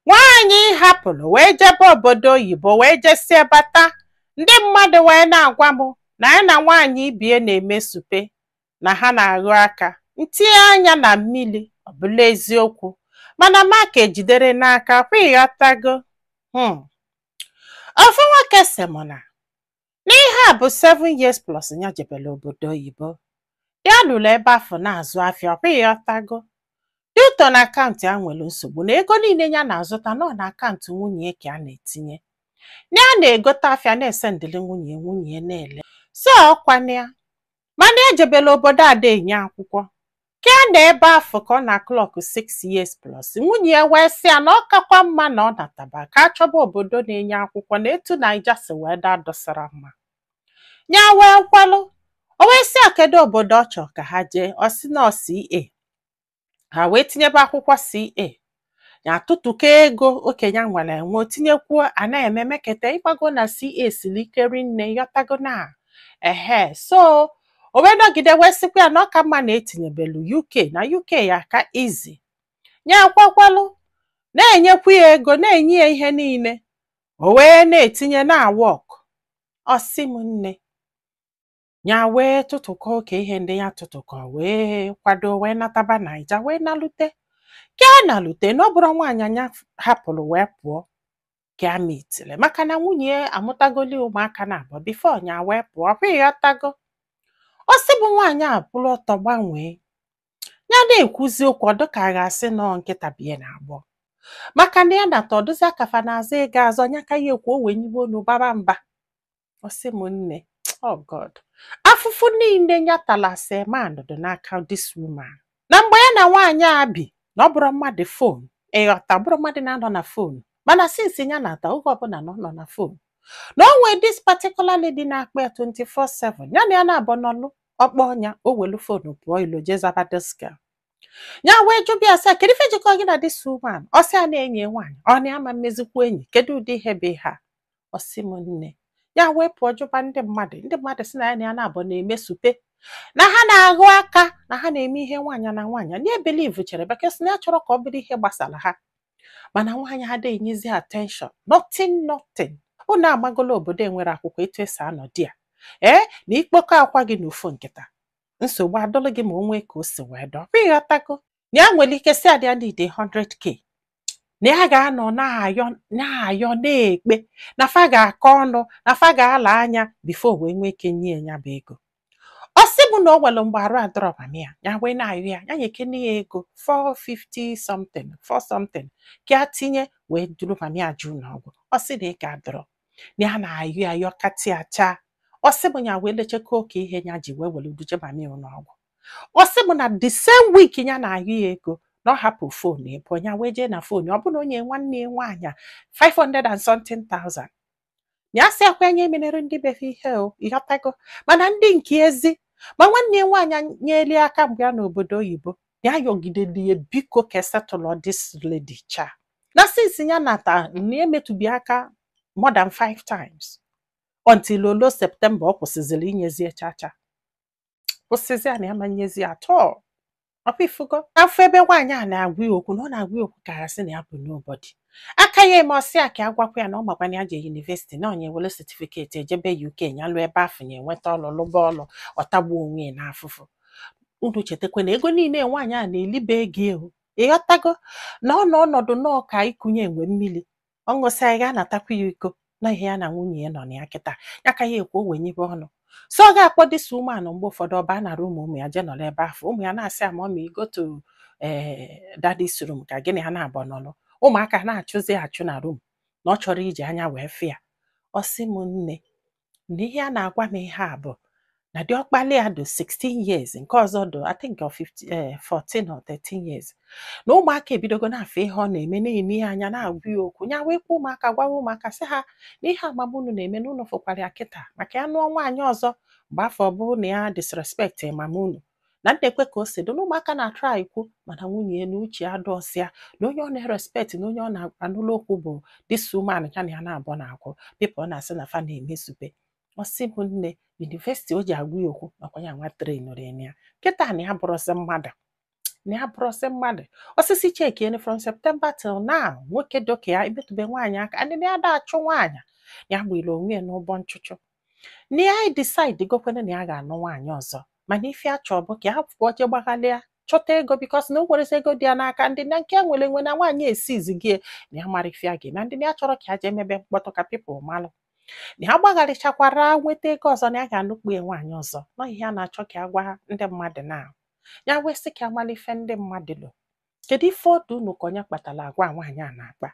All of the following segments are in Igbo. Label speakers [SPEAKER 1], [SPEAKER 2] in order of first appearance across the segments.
[SPEAKER 1] Nwaanyị ị hapụrụ wee jebe obodo oyibo wee jesie bata, ndị mmadụ wee na-agwa m na ya na nwaanyị ibie na-eme supe na ha na-aghụ aka. M tinye anya na mmiri, ọ bụla eziokwu. Mana m aka ejidere n'aka, kwa ịghọtago. Hmm. Ofu nwoke sị m na n'ihe a bụ seven years plus ya jebere obodo oyibo ya nọlụ ebe afụ na-azụ afịa kwa ịghọtago due to na akaụntụ ya nwere nsogbu na ego niile ya na-azụta na ọ na akaụntụ nwunye ya ka a na-etinye na ya na-egote afịa na-esendịrị nwunye ya, nwunye ya na-ele so ọ kwana ya mana ejebela obodo ada enye akwụkwọ ka ya nọ ebe afụ ka ọ na-klọk 6 years plus nwunye ya wee sị ya na ọ kakwa mma na ọ nataba ka a chọba obodo na-enye akwụkwọ na etu naija si wee dụ adụsara mma ya wee kwelụ o wee sị ya kedu obodo ọ chọrọ ka ha jee ọ sị na ọ CA ha wee tinyebe akwụkwọ CA ya atụtụkọ ego oke nya nwere enwe o tinyekwuo a na-eme mekete ị mago na CA siri ike rinne ịghọtago na ehe so o wee nọgide wee sịkwa ya na ọ ka mma na e tinyebelu UK na UK ya-aka easy ya ekwekwalụ na-enyekwu ya ego na-enye ya ihe niile o wee na-etinye na-awọk ọ sị m nne ya wee tụtụkọ oke ihe ndị ya tụtụkọ wee kwado wee nataba naija wee nalute ka ya nalute na ọ bụrụ nwaanyị nya hapụrụ wee pụọ ka ya mitili maka na nwunye ya amụtagoli ụmụaka naabọ bifo ya wee pụọ kwa ịghọtago ọ sị bụ nwaanyị akwụrụ ọtọ gbanwee ya na-ekwuzi okwu ọ dụ ka a ga-asị na ọ nkịta bie na-agbọ maka na ya nata ọ dụzi ka fa na-azọ ego azọ nya ka ya ekwu o wenyibe onu baba mba ọ sị m nne oh God afụfụ niile ya tala as man na ọ dụ n'aka this woman na mgbe ya na nwaanyị a bi na ọ bụrụ mmadụ fon ịghọta ọ bụrụ mmadụ na-anọ na fon mana sinsi ya nata oge ọbụla na ọ nọ na fon na o nwee this particular lady na-akpọ ya 24/7 ya na ya naabọ nọlụ ọ kpọọ nya o welu fonu pụọ ilo jee zaba this girl ya wee jụba ya sị kedu ife jikọ gị na this woman ọ sị ya na enyi nwaanyị ọ na ama m emezikwu enyi kedu ụdị ihe bụ ihe a ọ sị m nne ya wee pụọ jụba ndị mmadụ ndị mmadụ sị na ya na ya naabọ na-eme supe na ha na-aghụ aka na ha na-eme ihe nwaanyị na nwaanyị nya ebelivuchere because na ya achọrọ ka ọ bụrụ ihe gbasara ha mana nwaanyị a adịghị enyezi attention nothing nothing unu amagolo obodo enwere akwụkwọ etu e si anọdụ ya ee na i kpokọ akwa gị na ofu nkata nsogbu adụlụ gị ma o nwee ka o si wee dụ kwa ịghọtago na ya nwere ike si adị ya need 100k na ya ga-anọ na-ayọ na-ayọ na-ekpe na fa ga-akọ ọnụ na fa ga-ala anya bifo wee nwee ike nye ya bụ ego ọ sị bụ na o nwere mgbe arụ adịrọ mami ya ya wee na-ayọ ya ya nyekene ya ego 450 something 4 something ka ya tinye wee duru mami ya je ụnọ ọgwụ ọ sị na ego adịrọ na ya na-ayọ ya yọ katị acha ọ sị bụ ya wee lechekwa oke ihe ya ji wee were duje mami ya ụnọ ọgwụ ọ sị m na the same week ya na-ayọ ya ego na ọ hapụ fon ebe ya wee jee na fon ọ bụlụ na o nye nwanne ya nwaanyị a 500 and something thousand na ya sị ọkwa ya na-emenere ndị be fa ihe o ịghọtago mana ndị nke ezi ma nwanne ya nwaanyị nyeli aka mgbe ya nọ obodo oyibo na ya yọgideli ya biko ka esetụlọ this lady cha na sinsi ya nata na emetụbi aka more than five times until o luo septemba ọ kwụsịzịrị inyezi ya chacha kwụsịzi a na ya ma nyezi ya tọọ ọkwa ị fụgo afụ ebe nwaanyị a na-agwa ya okwu na ọ na-agwa ya okwu ka a sị na ya bụ nobody aka ya eme ọ sị ya ka a gwakwa ya na ọ makwa na ya jee yunivesiti na onye were setifiketi ejebe UK ya luo ebe afụ ya enweta ọlụ lụba ọlụ ọtagbuo onwe ya n'afụfụ unu chetakwa na ego niile nwaanyị a na-elibe ego ya o ịghọtago na ọ nọ ọnọdụ nọọ ka ịkụnye enwe mmiri ọ ṅụsịa ya ga-anatakwa ya iko na ihe ya na nwunye ya nọ na ya kịta ya ka ya ekwu o wee nyebe ọnụ so ọ ga-akpọ this woman mgbe ụfọdụ ọ baa na rum ụmụ ya jee nọrọ ebe afụ ụmụ ya na-asị ya mommy go to ee daddy's room ka gị na ya naabọ nọrọ ụmụaka na-achụzi achụ na rum na ọ chọrọ iji anya wee fụ ya ọ sị m nne na ihe a na-agwa m ihe a bụ na diọkpala ya dị 16 years nke ọzọ dị I think ọ 15, eh, 14 or 13 years na ụmụaka ebidogo na-afụ ihe ọ na-eme na-ene ya anya na-agwa ya okwu ya wee kuo ụmụaka gwawa ụmụaka sị ha na ihe a mama unu na-eme na unu fụkwara ya kịta maka ya nụọ nwaanyị ọzọ mgbe afụ ọ bụrụ na ya disrespect mama unu na m na-ekwe ka o si dị na ụmụaka na-atụrụ anyị kwu mana nwunye ya na uche ya dụọsị ya na onye ọ na-erespekt na onye ọ na-anụlụ okwu bụ this woman ya na ya naabọ na-akwụ pipụl na-asị na fa na-emezube ọ sị m nne yunivesiti o ji agwa ya okwu na ọkwa ya nwa trenụrụ ya na ya kịta na ya bụrụzi mmadụ na ya bụrụzi mmadụ ọ sị chekiene from septemba till now nwoke doka ya emetụbe nwaanyị aka adịna ya da-achụ nwaanyị ya gburu onwe ya n'ụgbọ nchụchụ na ya decide gokwene na ya ga-anụ nwaanyị ọzọ mana ife ya chọọ bụ ka ya pụọ je gbaghalịa chọta ego bikos na o nwerezi ego dị ya n'aka ndị na nke nwere enwe na nwaanyị esizi gị na ya mara ife ya ga-eme ndị na ya chọrọ ka ya jee mebe mkpọtụ ka pipụl malụ na ya gbagharịchakwara nweta ego ọzọ na ya ga-anụkpu ya nwaanyị ọzọ na ọ ihe ya na-achọ ka ya gwa ndị mmadụ na ya wee sị ka ya mara ife ndị mmadụ lo kedu ife ọ dụ unu ka ọ nya kpatara agwa nwaanyị a na-akpa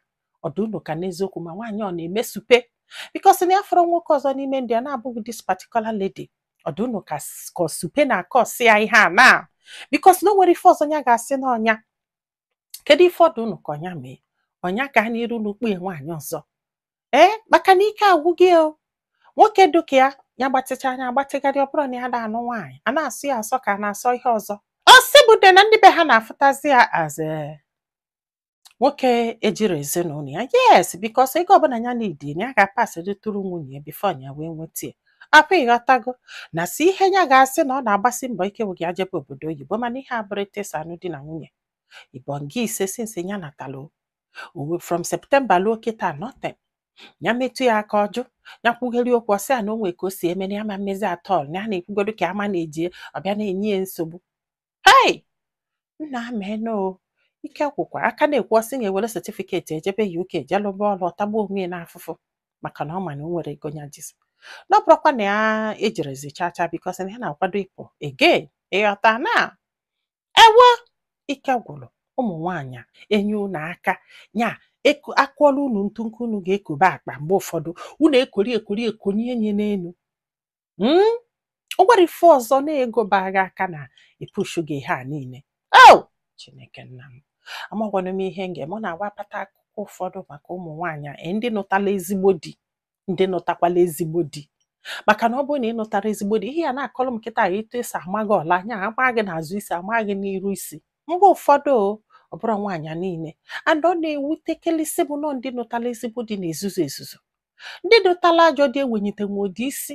[SPEAKER 1] ọ dụ unu ka n'eziokwu ma nwaanyị ọ na-eme supe because na ya afụrọ nwoke ọzọ n'ime ndụ ya na-abụghị this particular lady ọ dụ unu ka s- ka ọ supe na aka ọsị ya ihe a na because na o nwerọ ife ọzọ ya ga-asị na ọ nya kedu ife ọ dụ unu ka ọ nya mee ọ nya gaa n'iru nụkpo ya nwaanyị ọzọ ee maka na ike agwụgo nwoke dụka ya ya gbatịcha anya agbatịgharị ọ bụrụ na ya na-anụ nwaanyị a na-asọ ya asọ ka a na-asọ ihe ọzọ ọ sị bụ de na ndị be ha na-afụtazi ya as eh, nwoke ejirọ ezinụlọ ya yes because ego ọbụla ya na-need ya ga-apasịrị through nwunye ya before ya wee nweta ya ọ kwa ị ghọtago na sọ ihe ya ga-asị na ọ na-agbasi mbọ ike wụ ya jebe obodo oyibo mana ihe abụrụ etesa anụ di na nwunye ibonga ise since ya natalo uwe from September luo kịta nothing ya metụ ya aka ọ jụ ya kwugheri okwu ọ sị ya na o nwe ka o si eme na ya ama mmezi at all na ya na-ekwugodo ka ama na-eji ọbịa na-enye ya nsogbu hei nna ameno ike gwụkwa ọ ka na-ekwu ọ sị na-ewere certificate ejebe UK je lụba ọrụ ọ tagbuo onwe ya n'afụfụ maka na ọ ma na o nwerọ ego ya jizi na ọ bụrụkwa na ya ejirọzi chacha because na ya na-akwado ịpụ again ị ghọta na ewo ike gwụrụ ụmụ nwaanyị a, e nye unu aka nya eko- akụọla unu ntu nke unu ga-ekobe akpa mgbe ụfọdụ unu ekori ekori ekonye nya n'elu Mm? o nwere ife ọzọ na ego ba gị aka na-epushu gị ihe a niile o chineke nna m amagwanụ m ihe m ga-eme ọ na-awụ a pata akụkọ ụfọdụ maka ụmụ nwaanyị a, ee, ndị nụtala ezigbo di ndị nụtakwala ezigbo di maka na ọ bụrụ na ị nụtara ezigbo di ihe ya na-akọrọ m kịta etu e si ama gị ọla anya ama gị n'azụ isi ama gị n'iru isi mgbe ụfọdụ ọ bụrụ nwaanyị niile and ọ na-ewutekalịsị bụ na ọ ndị nụtara ezigbo di na-ezuzu ezuzu ndị nụtala ajọ di ewenyitenwudị isi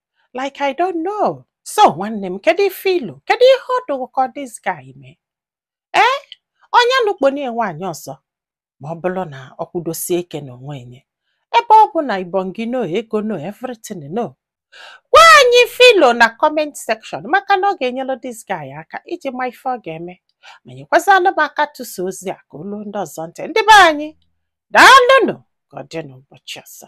[SPEAKER 1] like I don't know so nwanne m kedu ife i lo kedu ihe ọ dụ gị ka this guy mee ee ọ nya nụkpo nị nwaanyị ọzọ ma ọ bụrụ na ọ kwudosie ike n'onwe nya ebe ọ bụ na ibongi no ego no everything no gwa anyị ife i lo na comment section maka na ọ ga-enyere this guy aka iji ma ife ọ ga-eme ma nyekwazịanụ m aka tụsa ozi a ka o luo ndị ọzọ ntị ndị be anyị daalụnụ ka ọ dị n'ụbọchị ọzọ